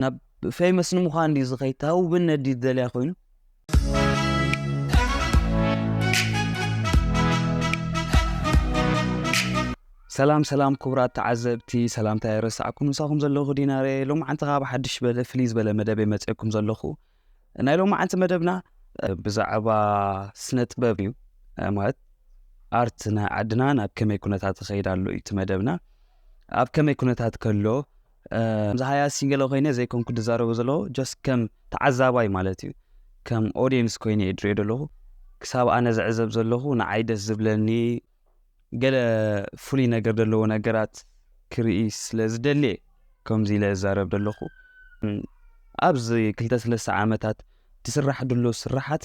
ናብ ፌመስ ንምዃን ድዩ ዝኸይድ እታ ውብነት ድዩ ዝደልያ ኮይኑ ሰላም ሰላም ክቡራት ተዓዘብቲ ሰላምታ የረሳዕኩም ምሳኹም ዘለኹ ዲናረ ሎማዓንቲ ካብ ሓድሽ በለ ፍልይ ዝበለ መደብ የመፅአኩም ዘለኹ ናይ ሎማዓንቲ መደብና ብዛዕባ ስነ ጥበብ እዩ ማለት ኣርት ናይ ዓድና ናብ ከመይ ኩነታት ይኸይድ ኣሎ እዩ እቲ መደብና ኣብ ከመይ ኩነታት ከሎ ከምዚ ሃያሲ ገለ ኮይነ ዘይኮንኩ ድዛረቦ ዘለኹ ጀስት ከም ተዓዛባይ ማለት እዩ ከም ኦድየንስ ኮይነ እየ ድሪኦ ዘለኹ ክሳብ ኣነ ዝዕዘብ ዘለኹ ንዓይ ደስ ዝብለኒ ገለ ፍሉይ ነገር ዘለዎ ነገራት ክርኢ ስለ ዝደልየ ከምዚ ኢለ እዛረብ ዘለኹ ኣብዚ ክልተ ሰለስተ ዓመታት ትስራሕ ድሎ ስራሓት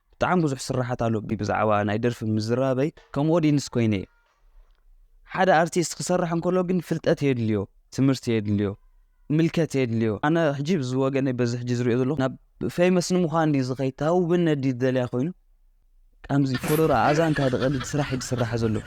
ብጣዕሚ ብዙሕ ስራሓት ኣሎ ብ ብዛዕባ ናይ ደርፊ ምዝራበይ ከም ኦዲንስ ኮይነ እየ ሓደ ኣርቲስት ክሰርሕ እንከሎ ግን ፍልጠት የድልዮ ትምህርቲ የድልዮ ምልከት የድልዮ ኣነ ሕጂ ብዝወገነይ በዚ ሕጂ ዝሪኦ ዘለኹ ናብ ፌመስ ንምዃን ድዩ ዝኸይድ ታውብነ ድዩ ዝደልያ ኮይኑ ከምዚ ፎሎራ ኣዛንካ ድቐድድ ስራሕ እዩ ዝስራሕ ዘሎ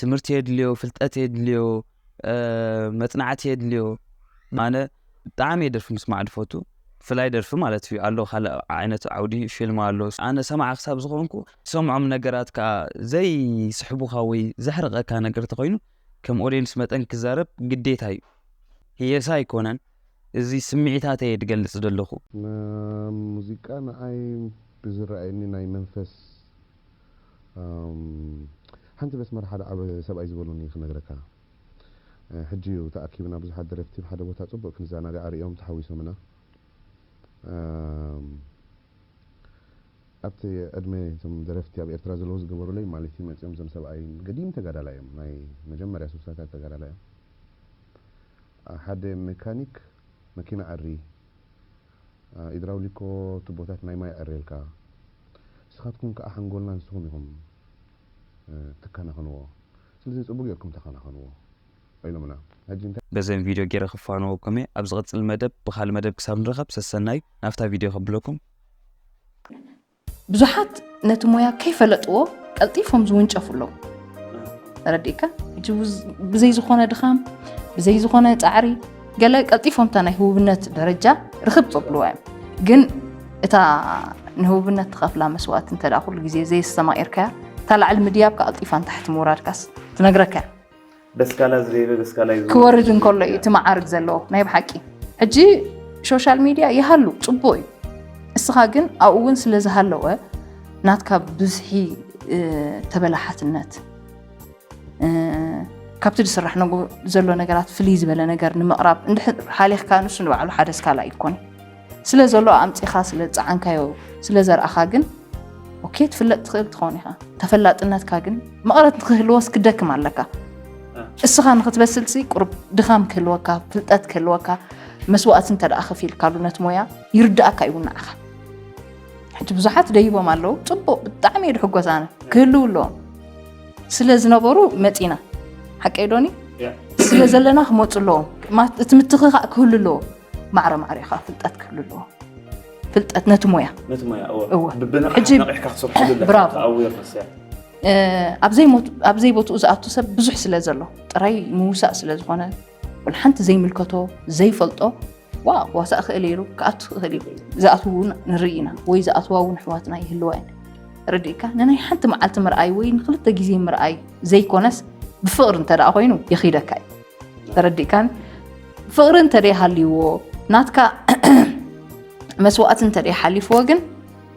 ትምህርቲ የድልዮ ፍልጠት የድልዮ መጽናዕቲ የድልዮ ኣነ ብጣዕሚ እየ ደርፊ ምስማዕ ድፈቱ ፍላይ ደርፊ ማለት እዩ ኣሎ ካልእ ዓይነት ዓውዲ ፊልም ኣሎ ኣነ ሰማዕ ክሳብ ዝኾንኩ ሰምዖም ነገራት ከዓ ዘይስሕቡካ ወይ ዘሕርቐካ ነገር ተኮይኑ ከም ኦዲየንስ መጠን ክዛረብ ግዴታ እዩ ህየሳ ኣይኮነን እዚ ስምዒታት እየ ድገልጽ ዘለኹ ሙዚቃ ንኣይ ብዝረኣየኒ ናይ መንፈስ ሓንቲ መስመር ሓደ ዓቢ ሰብኣይ ዝበሉኒ ክነግረካ። ሕጂ እዩ ተኣኪብና ብዙሓት ደረፍቲ ኣብ ሓደ ቦታ ጽቡቅ ክንዛናጋዕ ኣርእዮም ተሓዊሶምና። ኣብቲ ዕድመ እቶም ደረፍቲ ኣብ ኤርትራ ዘለዉ ዝገበሩለይ ማለት እዩ መጺኦም እዞም ሰብኣይ ገዲም ተጋዳላይ እዮም ናይ መጀመርያ ስሳታት ተጋዳላይ እዮም። ሓደ መካኒክ። መኪና ዕሪ ኢድራውሊኮ ቱቦታት ናይ ማይ ዕሬልካ ንስካትኩም ክኣ ሓንጎልና ንስኩም ኢኩም ትከናክንዎ ስለዚ ጽቡቅ ጌርኩም ተከናከንዎ ኢሎምና ሕጂ እንታይ በዘን ቪድዮ ጌረ ክፋነወኩም እየ ኣብ ዝቅጽል መደብ ብካልእ መደብ ክሳብ ንራከብ ሰሰናዩ ናብታ ቪድዮ ከብለኩም። ብዙሓት ነቲ ሞያ ከይፈለጥዎ ቀልጢፎም ዝውንጨፉ ኣለዉ ተረዲእካ ብዘይ ዝኾነ ድኻም ብዘይ ዝኾነ ፃዕሪ ገለ ቀልጢፎም እታ ናይ ህቡብነት ደረጃ ርክብ ፀብልዋ እዮም ግን እታ ንህቡብነት ትኸፍላ መስዋእቲ እንተ ኩሉ ግዜ ዘየስተማቂርካያ እታ ላዕሊ ምድያብካ ቀልጢፋ ንታሕቲ ምውራድካስ ትነግረካ እያ ደስካላ ዝደይበ ደስካላ እዩ ዝወርድ። ክወርድ እንከሎ እዩ እቲ መዓርግ ዘለዎ ናይ ብሓቂ ሕጂ ሾሻል ሚድያ ይሃሉ ፅቡቅ እዩ እስኻ ግን ኣብኡ እውን ስለ ዝሃለወ ናትካ ብዝሒ እ፣ ተበላሓትነት እ፣ ካብቲ ዝስራሕ ነጎ- ዘሎ ነገራት ፍልይ ዝበለ ነገር ንምቕራብ እንድሕር ሓሊኽካ ንሱ ንባዕሉ ሓደ ስካላ ኣይኮን ስለ ዘሎ ኣምጺኻ ስለ ዝጸዓንካዮ ስለ ዘርኣኻ ግን ኦኬ ትፍለጥ ትኽእል ትኾን ኢኻ ተፈላጥነትካ ግን መቐረት ንክህልዎስ ክደክም ኣለካ እስኻ ንክትበስልሲ ቁርብ ድኻም ክህልወካ ፍልጠት ክህልወካ መስዋእቲ እንተ ደኣ ከፊልካሉ ነቲ ሞያ ይርዳእካ እዩ ንዓኻ ሕጂ ብዙሓት ደይቦም ኣለዉ ፅቡቅ ብጣዕሚ እዩ ድሕጎስ ኣነ ክህልው ኣለዎም ስለ ዝነበሩ መፂና ሓቀይ ዶኒ ስለ ዘለና ክመፁ ኣለዎም እቲ ምትኽኻእ ክህሉ ኣለዎ ማዕረ ማዕሪኻ ፍልጠት ክህሉ ኣለዎ ፍልጠት ነቲ ሞያ ነቲ ሞያ እወ ብብንቕሓት ነቒሕካ ክትሰርሐሉ ኣለካ ኣዌርነስ እያ ኣብ ዘይቦትኡ ዝኣቱ ሰብ ብዙሕ ስለ ዘሎ ጥራይ ምውሳእ ስለ ዝኾነ ሓንቲ ዘይምልከቶ ዘይፈልጦ ዋ ዋሳእ ክእል ኢሉ ክኣቱ ክእል እዩ ዝኣትው እውን ንርኢ ኢና ወይ ዝኣትዋ እውን ኣሕዋትና ይህልዋ እየን ርድእካ ንናይ ሓንቲ መዓልቲ ምርኣይ ወይ ንክልተ ግዜ ምርኣይ ዘይኮነስ ብፍቕሪ እንተደኣ ኮይኑ የኺደካ እዩ ተረዲእካን ፍቅሪ እንተደይ ሃልይዎ ናትካ መስዋእቲ እንተደይ ሓሊፍዎ ግን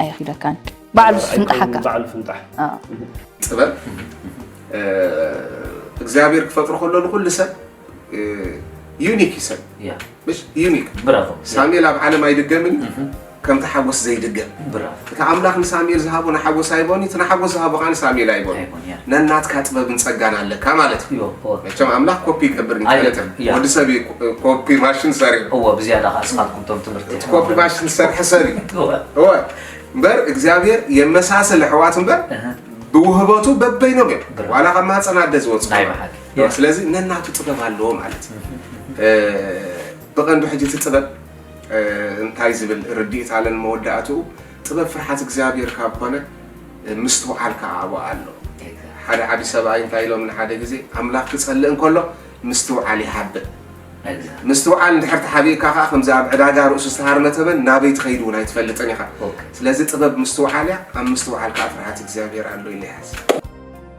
ኣይኺደካን ባዕሉ ፍንጣሓካ ባዕሉ ፍንጣሕ ጥበብ እግዚኣብሔር ክፈጥሮ ከሎ ንኩሉ ሰብ ዩኒክ እዩ ሰብ ዩኒክ ሳሙኤል ኣብ ዓለም ኣይድገምን ከምቲ ሓጎስ ዘይድገም እቲ ኣምላኽ ንሳሙኤል ዝሃቦ ንሓጎስ ኣይቦን እቲ ንሓጎስ ዝሃቦ ከዓ ንሳሙኤል ኣይቦን ነናትካ ጥበብን ጸጋን ኣለካ ማለት እዩ መቸም ኣምላኽ ኮፒ ይገብር ንፈልጥ ወዲ ሰብ ኮፒ ማሽን ሰሪ እዎ ብዝያዳ ከዓ ስኻትኩም ቶም ትምህርቲ ኮፒ ማሽን ዝሰርሐ ሰብ እዩ እወ እምበር እግዚኣብሔር የመሳሰል ኣሕዋት እምበር ብውህበቱ በበይኖም እዮም ዋላ ካብ ማህፀን ኣደ ዝወፅኡ ስለዚ ነናቱ ጥበብ ኣለዎ ማለት እዩ ብቐንዱ ሕጂ እቲ ጥበብ እንታይ ዝብል ርድኢት ኣለን መወዳእትኡ ጥበብ ፍርሓት እግዚኣብሔር ካብ ኮነ ምስትውዓል ከዓ ኣብኡ ኣሎ ሓደ ዓቢ ሰብኣይ እንታይ ኢሎም ንሓደ ግዜ ኣምላኽ ክጸልእ እንከሎ ምስትውዓል ይሃብእ ምስትውዓል እንድሕር ተሓቢእካ ከዓ ከምዚ ኣብ ዕዳጋ ርእሱ ዝተሃርመ ተመን ናበይ ትኸይድ እውን ኣይትፈልጥን ኢኻ ስለዚ ጥበብ ምስትውዓል እያ ኣብ ምስትውዓል ከዓ ፍርሃት እግዚኣብሔር ኣሎ ኢለ ይሓስብ